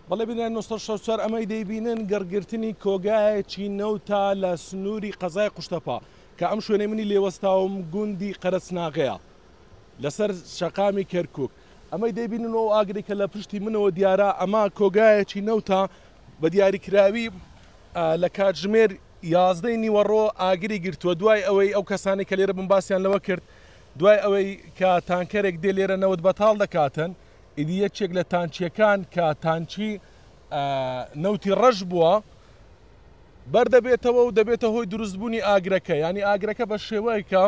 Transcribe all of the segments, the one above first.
بەڵێ بینای نۆ سەد و شەست و چوار ئەمەی دەیبینن گڕگرتنی کۆگایەکی نەوتە لە سنووری قەزای قوشتەپە کە ئەم شوێنەی منی لێ وەستاوم گوندی قەرەچناغەیە لەسەر شەقامی کەرکووک ئەمەی دەیبینن و ئاگری کە لە پشتی منەوە دیارە ئەمە کۆگایەکی نەوتە بە دیاریکراوی لە کاتژمێر یازدەی نیوەڕۆ ئاگری گرتووە دوای ئەوەی ئەو کەسانی کە لێرە بمباسیان لەوە کرد دوای ئەوەی کە تانکەرێک دێ لێرە نەوت بەتاڵ دەکاتن ئیدی یەکێک لە تانچیەکان کە تانچی نەوتی ڕەش بووە بەردەبێتەوە و دەبێتە هۆی دروستبوونی ئاگرەکە ینی ئاگرەکە بە شێوەیەکە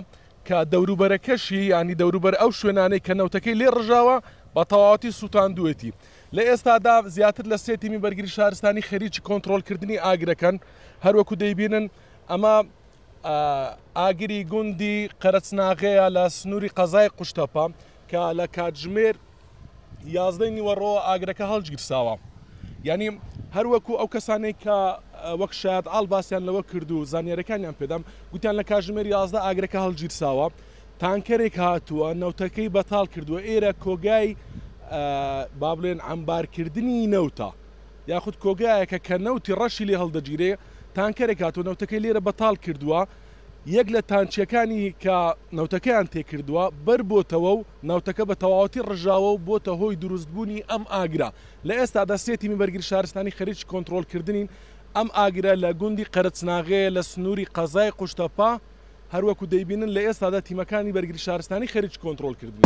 کە دەوروبەرەکەشی ینی دەوروبەر ئەو شوێنانەی کە نەوتەکەی لێ ڕژاوە بە تەواتی سووتاندوێتی لە ئێستادا زیاتر لە سێتیمی بەرگری شارستانی خەریکی کۆنتترۆلکردنی ئاگرەکەن هەروەکو دەیبینن ئەمە ئاگری گوندی قەرەچناغەیە لە سنووری قەزای قوشتەپە کە لە کاتژمێر یازدەی نیوەڕۆوە ئاگرەکە هەڵگیرساوە یعنی هەروەکو ئەو کەسانێک کە وەک شاد ئاڵ باسییان لەوە کرد و زانیارەکانیان پێدام گوتیان لە کاژمێر یازدە ئاگرەکە هەڵگیرساوە تانکەرێک هاتووە نەوتەکەی بەتاڵ کردووە ئێرە کۆگای با بڵێن ئەمبارکردنی نەوتە یاخود کۆگایەکە کە نەوتی ڕەشی لێ هەڵدەگیرێ تانکەرێک هاتووە نەوتەکەی لێرە بەتاڵ کردووە یەک لە تانچیەکانی کە نەوتەکەیان تێکردووە بەربۆتەوە و نەوتەکە بە تەواوەتی ڕژاوە و بۆتە هۆی دروستبوونی ئەم ئاگرە لە ئێستادا سێ تیمی بەرگری شارستانی خەریکی کۆنتڕۆڵکردنین ئەم ئاگرە لە گوندی قەرەچناغەیە لە سنووری قەزای قوشتەپە هەروەکو دەیبینن لە ئێستادا تیمەکانی بەرگری شارستانی خەریکی کۆنتڕۆڵکردنی.